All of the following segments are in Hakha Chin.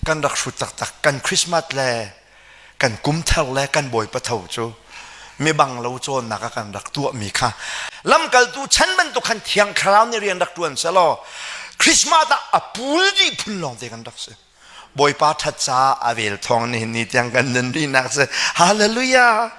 Kan rak hrut taktak. Kan Christmas le kan kumthar le kan bawipa tho cu mibang lo cawnnak a kan rak tuahmi kha lamkaltu chan bantuk khan thiang thlarau nih rian rak ṭuan selaw Christmas ah a pul dih phun lawng te kan rak si. Bawipa ṭhat caah a vel thawng nihin ni tiang kan nun rihnak si. Hallelujah!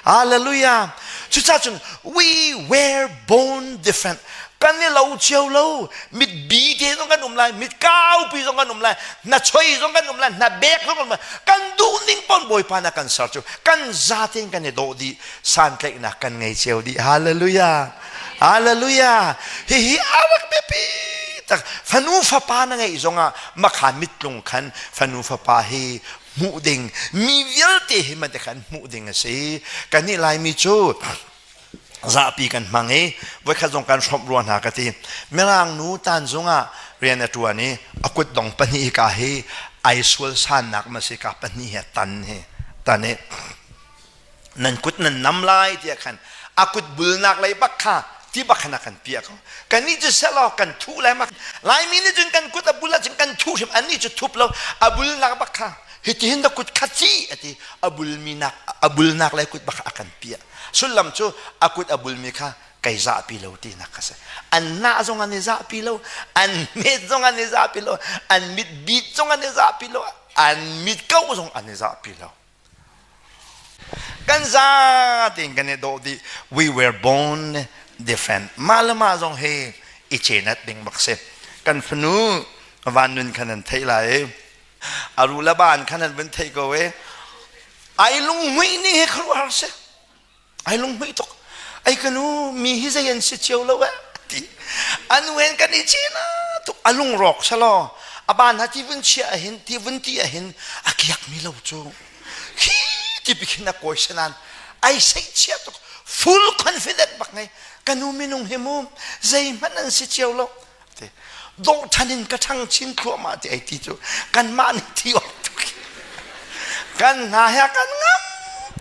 Hallelujah. Cucacun we were born different. Kan i lo cio lo. Mit bi te zong kan um lai, mit kaupi zong kan um lai, na choi zong kan um lai, na bek zong kan um lai. Kan duh ning pon Bawipa na kan ser cu. Kan zate kan i do dih, santlaihnak kan ngei cio dih. Hallelujah. Hallelujah. Hihi awak biapi tak fanu fapa na ngeih zongah makha mitlung khan fanu fapa hi hmuh ding mi vialte hi man khan hmuh ding a si kan nih laimi cu zapi kan hmang i voikhat zong kan hrawmh rua hna ka ti mirang nu tan zungah rian a tuan i a kut dong pahnih ka hi ai sual sannak ma si ka pahnih he tan hi tan i nan kut nan nam lai tiah khan a kut bulnak lei bak kha ti bak khan a kan piah ko kannih cu selaw kan thuh lai ma laimi nih cun kan kut a bul ahcun kan thuh hrim annih cu thup lo a bulnak bak kha hitihin da kut kha ci a ti a bulmi nak a bulnak lei kut bak a kan piah sullam cu a kut a bulmi kha kai zahpi lo tinak ka si an nah zong an i zahpi lo an met zong an i zahpi lo an mit beat zong an i zahpi lo an mit kau zong an i zahpi lo kan za tiin kan i dawh dih we were born different mah le mah zong hi i cenat ding bak si kan fanu van nun khan an theih lai a ru le ban khan an vun theih ko e ai lung muih ni hi kharuh har si ai lunghmuih tuk ai kanu mi hi zei an si cio lo eh ti anu hen kan i cina tuk a lung rawk salo a ban ha ti vun chia ahin ti vun ti ahin a kiak mi lo cu khi ti bikin a koi senan ai sei chia tuk full confident bak ngai kanu minung hi mu zei hmanh an si cio lo ti dawh ṭhan in ka ṭhang chin thluahmah ti ai ti cu kanmah nih thi oih tuk kan hna he kan ngam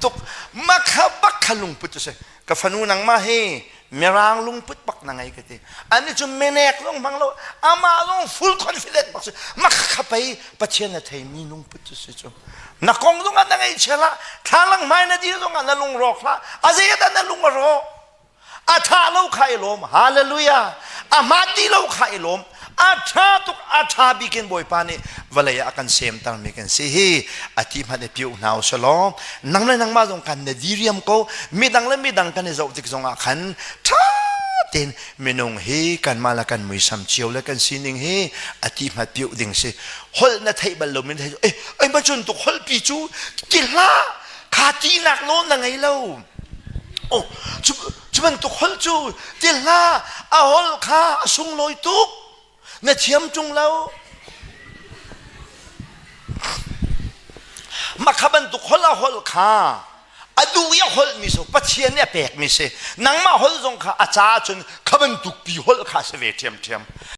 tuk makha bak kha lungput cu si ka fanu nangmah hi mirang lungput bak na ngei ka ti ani cu menek lung hmang lo amah lung full confident bak si makha kha pei pathian na thei mi lungput cu si cu na kong zong ah na ngei chela thlalang mai na dir zong ah na lung rawk hla a zeiat ah na lung a rawk a ṭha lo kha i lawm hallelujah a hma ti lo kha i lawm a ṭha tuk a ṭha bik in bawipa nih vawlei ah a kan semter mi kan si hi a ti hmanh i piu hna u selaw nang le nangmah zong kan na diriam ko midang le midang kan i zoh tik zongah khan ṭha tein minung hi kanmah le kan muisam cio le kan sining hi a ti hmat piu ding si holh na theih bal lomin theih eh ai ma cun tuk holh pi cu ki hla kha tinak lo na ngei lo Oh, cu, cu bantuk hol cu ti hlah a hol kha a sunglawi tuk na thiam ṭung lo makha bantuk hol a hol kha a duh i a holmi so pathian nih a pekmi si nangmah hol zong kha a caah cun kha bantuk pi hol kha si ve ṭhiamṭhiam